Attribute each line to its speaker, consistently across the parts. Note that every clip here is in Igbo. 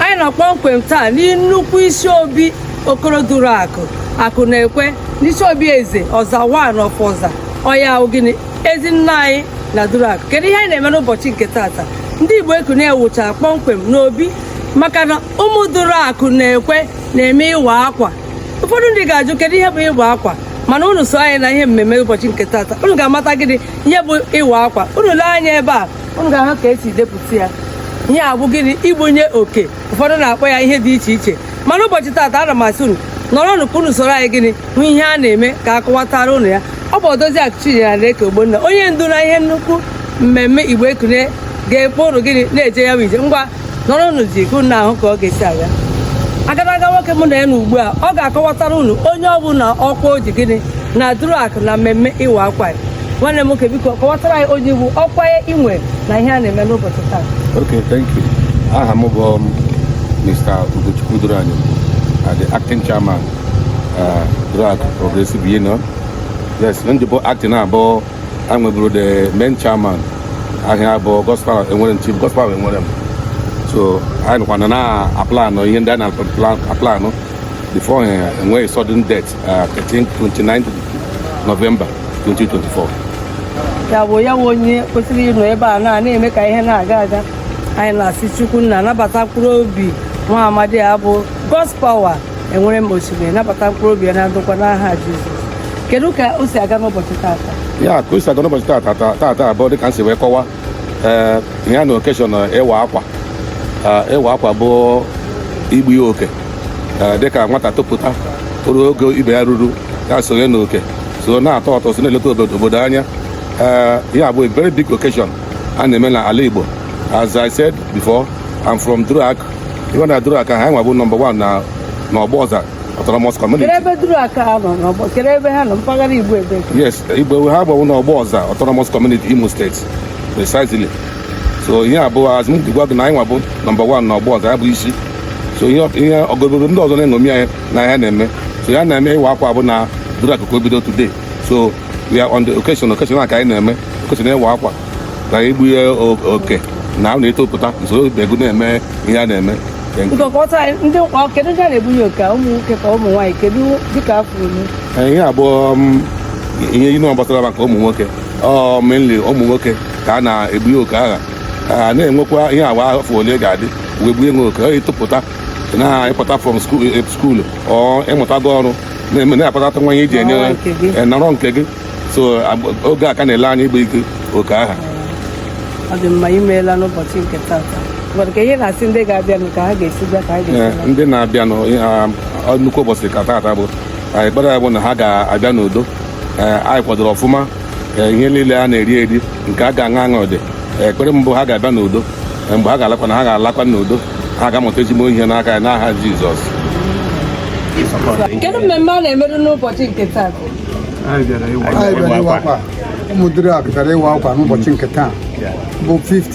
Speaker 1: anyị nọ kpọmkwem taa na nnukwu isi obi okoroduru akụ akụ na ekwe n'isi obi eze ọza wan of ọza ọ ya ọ gịnị ezi nna anyị na duru akụ kedu ihe anyị na-eme n'ụbọchị nke tata ndị igbo ekunie wụcha kpọmkwem n'obi maka na ụmụ duru akụ na ekwe na-eme ịwa akwa ụfọdụ ndị ga-ajụ kedu ihe bụ ịwa akwa mana unu so anyị na ihe mmemme ụbọchị nke tata unu ga-amata gịnị ihe bụ ịwa akwa unu lee anya ebe a unu ga-ahụ ka e si depụta ya ihe a bụ gịnị igbunye oke ụfọdụ na-akpọ ya ihe dị iche iche mana ụbọchị taata ana m asị unu nọrọnụ ka unu soro anyị gịnị hụ ihe a na-eme ka a kọwatara unu ya ọ bụ odoziakụ chinyere aneke ogbonna onye ndu na ihe nnukwu mmemme igbo ekunie ga-akpọ unu gịnị na-eje ya bụ ije ngwa nọrọnụzi ka unu na-ahụ ka ọ ga-esi aga agadaga nwoke mụ na ya nọ ugbu a ọ ga-akọwatara unu onye ọ bụ na ọkwa o ji gịnị na duru akụ na mmemme ịwa akwa ya nwanne m nwoke biko kọwatara anyị onye ị bụ ọkwa i nwe na ihe a na-eme n'ụbọchị taa Okay, thank you. Aha m bụ um, Mr. Ugochukwu Duranyo, uh, the acting chairman, uh, Duruakụ Progressive Union. Ihe m ji bụ acting bụ a nweburu the main chairman aha ya bụ Godspower Enwerem chief Godspower Enwerem so anyị nọkwanụ na-aplanụ ihe ndị a na-aplanụ before eh, e nwee sudden death uh, 13 29 November 2024 ya bụ ya bụ onye kwesịrị ịnọ ebe a na na-eme ka ihe na-aga aga anyị na-asị chukwu nna nabata mkpụrụ obi nwa amadi a bụ Godspower Enwerem osimiri nabata mkpụrụ obi ya na ndokwa n'aha Jizọs kedu ka o si aga n'ụbọchị taata ya ka o si aga n'ụbọchị taata taata bụ dịka m si wee kọwa ee eh, ya na okeshọn eh, ịwa akwa eh, ịwa akwa bụ igbu ya oke dịka nwata topụta o ruo oge ibe ya ruru ya sonye n'oke so na-atụ ụtụ so na-eleta obodo anya ee ya bụ a very big occasion a na-eme na ala Igbo as I said before I'm from Duruakụ even na Duruakụ ha nwa bụ number one na n'ọgbọ ọza autonomous community Kedụ ebe duru akụ ha nọ n'ọgbọ? Kedụ ebe ha nọ mpaghara Igbo ebe? yes igbo ha gbawo n'ọgbọ ọza autonomous community imo steeti precisely so ihe ọ bụ as m gwa gị na anyị nwa bụ number one n'ọgbọ ọza ya bụ isi so ihe ihe obodo ndị ọzọ na-eṅomi anyị na ihe a na-eme so ihe a na-eme ịwa akwa bụ na Duruakụ ka o bido today so we are on the occasion occasion a ka anyị na-eme occasion ịwa akwa na igbunye o- oke na ahụ na-etopụta i soro ibe gị na-eme ihe a na-eme Thank you. nkọkọta ndị ọ kedu ndị a na-egbunye oke a? ụmụ nwoke ka ụmụ nwaanyị kedu dịka afọ unu Ee, ihe ọ bụ um, ihe inu gbasara maka ụmụ nwoke ọ mainly ụmụ nwoke ka a na-egbunye oke agha a na-enwekwa ihe agba afọ ole ị ga-adị wee gbunye oke ọ i topụta na ị pụta from school or ị mụtago ọrụ na-akpatata nwa ihe iji enye nọrọ nke gị so oge a ka na-ele anya ịgba ike oke aha ọ dị mma imeela n'ụbọchị nke tata ndị ga-abịanụ ka ha ga-esi bịa ka ha ga-esi ndị na-abịanụ nnukwu ụbọchị ka tata bụ anyị ekpere anyị bụ na ha ga-abịa n'udo anyị kwadoro ọfụma ihe niile a na-eri eri nke a ga-aṅụ aṅụ ọ dị ekpere m bụ ha ga-abịa n'udo mgbe ha ga-alakwa na ha ga-alakwa n'udo ha ga-amụta ezigbo ihe n'aka ya n'aha Jizọs kedu mmemme a na-emerụ n'ụbọchị nke taa ụmụduruakụ bịara ịwa akwa n'ụbọchị nke taa bụ 5th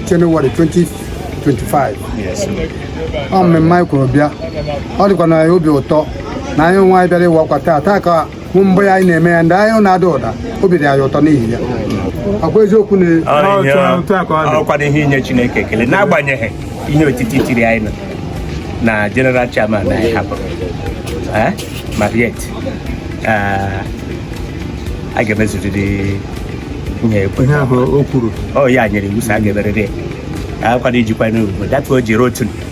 Speaker 1: Jenụwarị 2025 ọ mmemme anyị kwuru bịa ọ dịkwa anyị obi ụtọ na anyị onwe anyị bịara ịwa akwa taa taa ka bụ mbụ ya anyị na-eme ya ndị anyị na-ada ụda obi dị anyị ụtọ n'ihi ya ọ wụ eziokwu na ọkwana ihe inye Chineke ekele n'agbanyeghị ihe otiti tiri anyị nọ na general chairman anyị hapụrụ eh, ma yet eh, a ga-emezurịrị ihe okwu o kwuru ọ ya nyere iwu sị a ga-emerịrị ya akwana ijikwa n'ugbo dapụ o jiri otu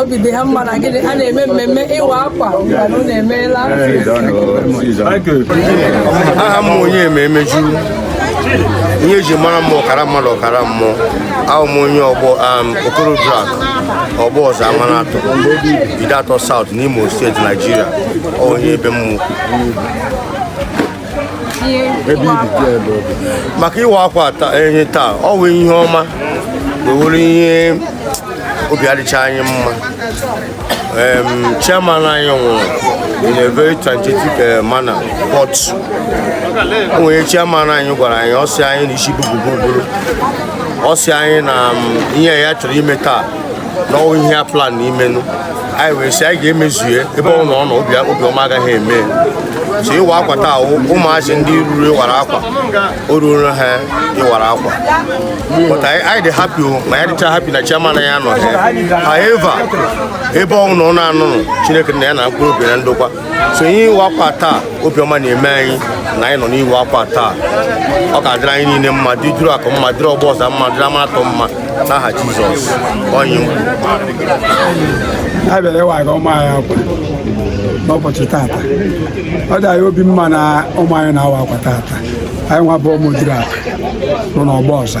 Speaker 1: obi dị ha mma na gịnị a na-eme mmemme ịwa akwa mana unu emeela aha m onye eme emeju ihe eji mara m ọkara mmadụ ọkara mmụọ awụ m onye ọgbọ am okoro duruakụ ọgbọza amanatọ ideato south n'imo steeti naijiria onye ebe mmụọ ebe ibi dị ebe obi maka ịwa akwa ehi taa ọ wụ ihe ọma o nwere ihe obi adịcha anyị mma chairman anyị nwụrụ in a very transitive eh, manner but o nwere ihe chairman anyị gwara anyị ọ sị anyị na isi bububuru ọ sị anyị na mm, ihe ya chọrọ ime taa na ọ wụ ihe a plan imenụ anyị wee sị anyị ga-emezue ebe ọ wụ ọ nọ obiọma agaghị eme so ịwa akwa taa ụmụazị ndị ruru ịwara akwa o ruoro ha ịwara akwa but anyị dị happy ma anyị adịcha happy na chairman anyị anọha however ebe ọ wụ ọ nọ ọ na-anụnụ chineke nna ya nara mkpụrụ obi na ndokwa so ihe ịwa akwa taa obiọma na-eme anyị na anyị nọ n'ịwa akwa taa ọ ga-adịrị anyị niile mma dị duruakụ mma dịrị ọgbọza mma dịrị ama atọ mma n'aha Jizọs onye a bịara ịwaga ụmụ anyị akwa n'ụbọchị tata ọ dị anyị obi mma na ụmụ anyị na-awa akwa tata anyị nwa bụ ụmụduruakụ nọ n'ọgbọza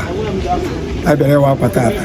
Speaker 1: anyị bịara ịwa akwa tata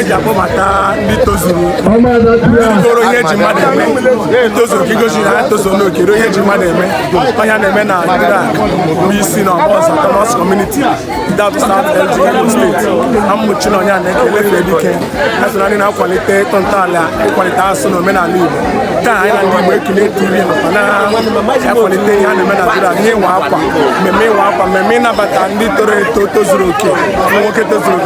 Speaker 1: eji akpọbata ndị tozuru toro ihe eji mmadụ eme tozuru ka igosi na ha tozuo oke ruo ihe eji mmadụ eme ọ ya na-eme na Duruaku bụ isi na ọkpọ Autonomous Community South LG Imo steeti na mmụchi na anyị na-ekele fee dike ha so na ndị na-akwalite ịtọ ntọala ịkwalite asụsụ na omenala Igbo nke a anyị na ndị Igbo ekele TV nakwa na akwalite ihe a na-eme na Duruaku ihe ịwa akwa mmemme ịwa akwa mmemme ịnabata ndị toro eto tozuru oke nwoke tozuru oke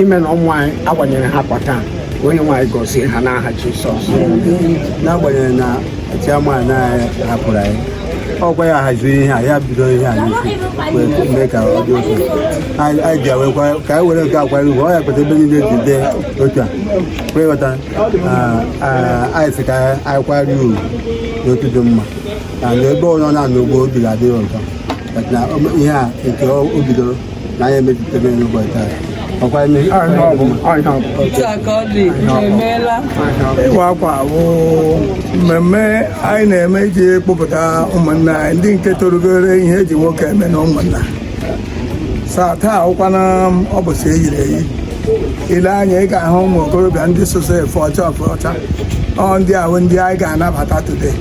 Speaker 1: ime na ụmụ anyị agbanyere ha akwa taa onye nwe anyị gọzie ha n'aha Jizọs n'agbanyeghị na chairman anyị hapụrụ anyị ọ kwa ya haziri ihe a ya bido ihe a n'isi wee mee ka ọ dị otu anyị anyị ji awekwa ka anyị were nke a kwara ugwu ọ ya kpata ebe niile ji dee otu a wee ghọta ah, ah, anyị sị ka anyị kwara ya ugwu n'otu dị mma na ebe ọ nọ na-anụ ugbu a obi ga-adị ya ụtọ But na o- ihe a nke o o bidoro na anyị emejutebe n'ụbọchị taa ọkwa eme Anyị ọ bụ anyị ọ bụ otu a ka ọ dị emeela ịwa akwa wụ mmemme anyị na-eme iji kpọpụta ụmụnna anyị ndị nke torugoro ihe eji nwoke eme na ụmụnna so taa wụkwanụ ụbọsị eyiri eyi ile anya ị ga-ahụ ụmụ okorobịa ndị soso efe ọcha efe ọcha ọ ndị a wụ ndị anyị ga-anabata today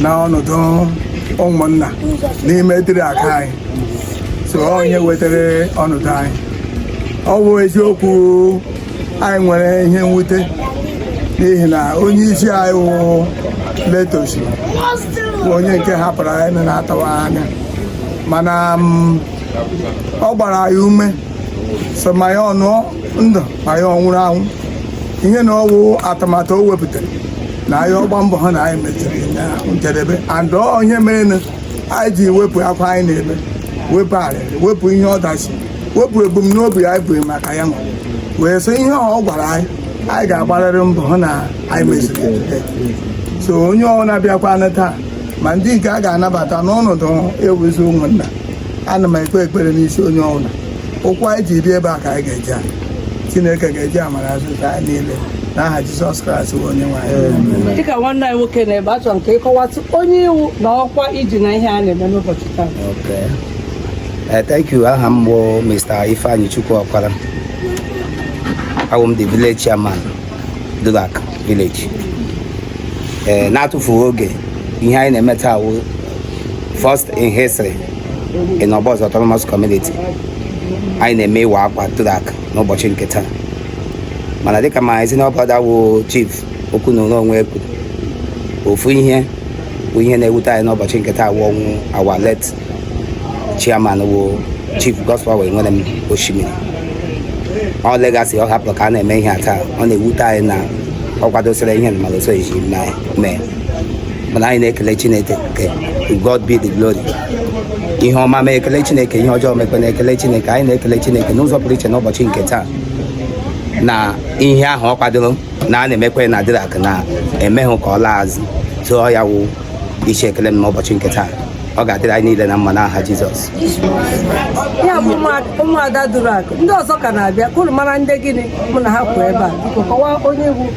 Speaker 1: na ọnọdụ ụmụnna n'ime Duruaku anyị so onye wetara ọnọdụ anyị ọ wụ eziokwu anyị nwere ihe mwute n'ihi na onye isi anyị wụ late Oshi bụ onye nke hapụrụ anyị na na-atawa anya mana mm, ọ gbara anyị ume so ma ya ọ nọ ndụ ma ya ọ nwụrụ anwụ ihe na ọ wụ atụmatụ o wepụtara na anyị agba mbọ hụ na anyị mechiri na njedebe and ọ ya mere anyị ji wepụ akwa anyị na-eme wepụ arịrị wepụ ihe ọdachi wepụ ebumnobi anyị bụ maka ya nwa wee sị ihe ọ gwara anyị anyị ga-agbarịrị mbọ hụ na anyị meziri ya. so onye ọbụla bịakwanụ taa ma ndị nke a ga-anabata n'ọnọdụ ịwụzi ụmụnna ana m ekpe ekpere n'isi onye ọbụla ụkwụ anyị ji bịa ebe a ka anyị ga-eji ala chineke ga-eji amara azọ anyị niile n'aha jizọs kraịst bụ onye nwe anyị dịka nwanne anyị nwoke na-ebe achọrọ m ka ị kọwatụ onye ị wụ na ọkwa i ji na ihe a na-eme n'ụbọchị taa Okay. Uh, thank you. Aha m bụ Mr. Ifeanyichukwu Ọkwara. Awụ m the village chairman, Duruaku village. Eh, N'atụfughị oge, ihe anyị na-eme taa wụ first in history ị na ọbọs autonomous community anyị na-eme ịwa akwa Duruakụ n'ụbọchị nke taa mana dịka my senior brother wụ chief okwu na onwe kwuru ofu ihe bụ ihe na-ewute anyị n'ụbọchị nke taa wụ ọnwụ our late chairman wụ chief Godspower Enwerem Oshimiri ọ legacy ọ hapụrụ ka a na-eme ihe a taa ọ na-ewute anyị na ọ kwadosịrị ihe na mana o soghị mee mana anyị na-ekele chineke God be the glory ihe ọma mee ekele chineke ihe ọjọọ mekwanụ ekele chineke anyị na-ekele chineke n'ụzọ pụrụ iche n'ụbọchị nke taa na ihe ahụ ọ kwadoro na a na-emekwe na Duruakụ na emeghị ka ọ laa azụ so ya wụ isi ekele m n'ụbọchị nke taa ọ ga-adịrị anyị niile na mma n'aha Jizọs ya bụ ụmụada Duruakụ ndị ọzọ ka na-abịa ka mara ndị gịnị mụ na ha kwụ ebe a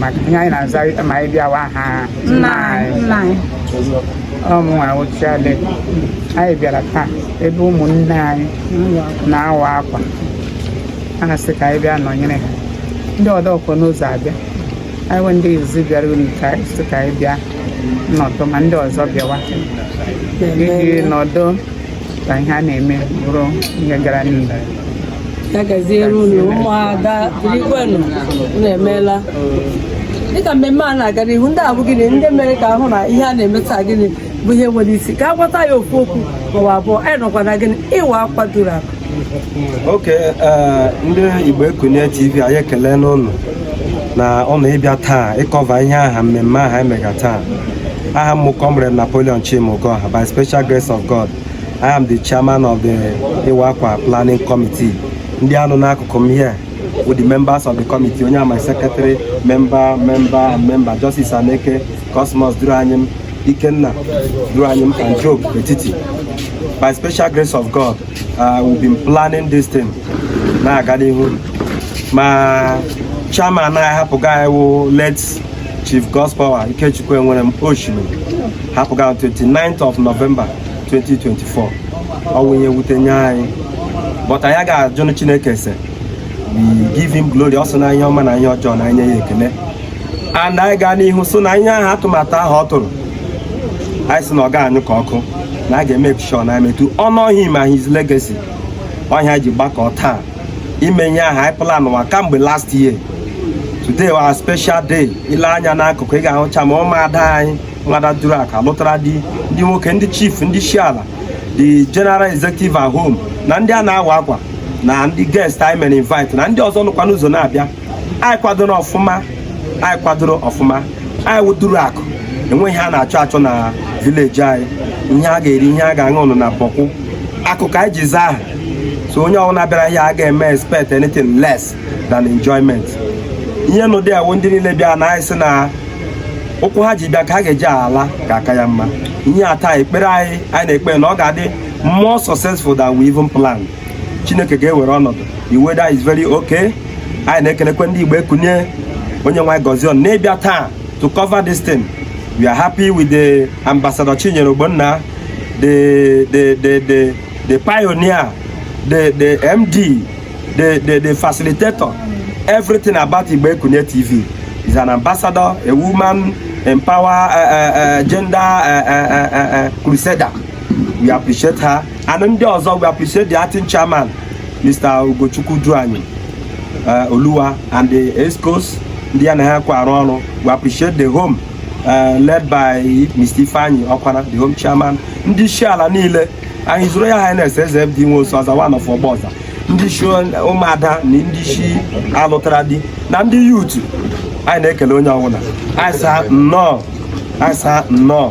Speaker 1: maka ihe anyị na-aza ma anyị bịawa ha nna anyị ọ mụnwa wụ chairlady anyị bịara taa ebe ụmụnne anyị na-awa akwa ha sị ka anyị bịa nọnyere ha ndị ọdọ ka nọ n'ụzọ abịa anyị wụ ndị izi bịaranụ ka anyị sị ka anyị bịa nọdụ ma ndị ọzọ bịawa iji nọdụ ka ihe a na-eme bụrụ ihe gara n'ihu ya gaziere unu ụmụada dịrịkwanụ unu emeela dịka mmemme a na-aga n'ihu ndị a bụ gịnị ndị mere ka a hụ na ihe a na-eme taa gịnị bụ ihe were isi ka a gwata ya ofu okwu maọbụ abụọ anyị nọkwa na gịnị ịwa akwa Duruakụ okay ndị Igbo Ekunie TV anyị ekelee unu na ọ na ịbịa taa ịcover ihe aha mmemme aha emega taa aha m wụ Comrade Napoleon Chimugoha by special grace of God I am the chairman of the Iwa Akwa Planning Committee ndị a nọ n'akụkụ m here wụ the members of the committee onye a my secretary member member and member Justice Aneke Cosmos Duruanyim Ikenna Duruanyim and Job Etiti by special grace of god Uh, we've been planning this thing na-aga n'ihu ma chairman anyị hapụga anyị wụ late Chief Godspower Ikechukwu Enwerem Oshimiri hapụga on 29th of November 2024 ọ wụ ihe wute nye anyị but anyị ga-ajụnụ Chineke ese we give him glory ọ sị na ihe ọma na ihe ọjọọ na anyị nye ya ekele and anyị gaa n'ihu so na ihe ahụ atụmatụ ahụ ọ tụrụ anyị sị na ọ ga-anyụ ka ọkụ na a ga-emake sure na emetu ọnụ ọhịa ma his legacy ọ ihe e ji gbakọ taa ime ihe ahụ anyị planwa kamgbe last year today wụ a special day i lee anya n'akụkụ ị ga-ahụcha ma ụmụ ada anyị nwada Duruakụ lụtara di ndị nwoke ndị chief ndị isi ala the general executive at home na ndị a na-awa akwa na ndị guest anyị mere invite na ndị ọzọ nọkwa n'ụzọ na-abịa anyị kwadoro ọfụma anyị kwadoro ọfụma anyị wụ duruakụ enweghị ihe a na-achọ achọ na village anyị ihe a ga-eri ihe a ga-aṅụ ụnụ na bọkụ akụ ka anyị ji zaa aha so onye ọbụla bịara ihe a ga-eme expect anything less than enjoyment ihe n'ụdị awụ ndị niile bịa na anyị sị na ụkwụ ha ji bịa ka ha ga-eji ala ga-aka ya mma ihe ata ekpere anyị anyị na-ekpe na ọ ga-adị more successful than we even plan chineke ga-ewere ọnọdụ the weather is very okay anyị na-ekelekwa ndị igbo ekunie onye nwe gọzie unu n'ịbịa taa to cover this thing we are happy with the ambassador chinyere ogbonna the the the the the pioneer the the md the the the facilitator everything about igbo ekunie tv is an ambassador a woman empower uh, uh, uh, gender uh, uh, uh, uh, crusader we appreciate her and ndị ọzọ we appreciate the acting chairman Mr. Ugochukwu Duanyi uh, Oluwa and the excos ndị ya na ha kwa arụ ọrụ we appreciate the home uh, led by Mr. Ifeanyi Ọkwana the home chairman ndị isi ala niile his royal highness eze FD Nwosu ọza one of ọgba ọza ndị isi ụmụada na ndị isi alụtara di na ndị youth anyị na-ekele onye ọbụla anyị sị ha nnọọ anyị sị ha nnọọ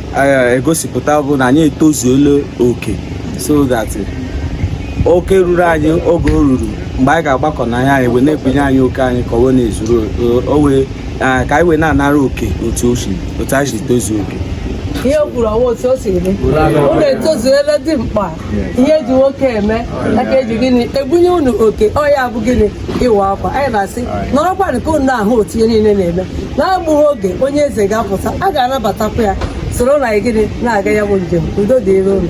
Speaker 1: eh, egosipụta bụ na anyị etozuola oke so that oke ruru anyị oge o ruru mgbe anyị ga-agbakọ na ya anyị wee na-ekenye anyị oke anyị ka o wee na-ezuru o wee ah, ka anyị wee na-anara oke otu o si otu anyị si tozuo oke ihe o kwuru ọnwa otu o siri dị unu etozuela dị mkpa ihe e ji nwoke eme a ka e ji gịnị ebunye unu oke ọ ya bụ gịnị ịwa akwa anyị na-asị nọrọkwanị ka unu na-ahụ otu ihe niile na-eme n'egbughị oge onye eze ga-apụta a ga-anabatakwa ya soro na gịnị na-aga ya bụ njem udo dịrị unu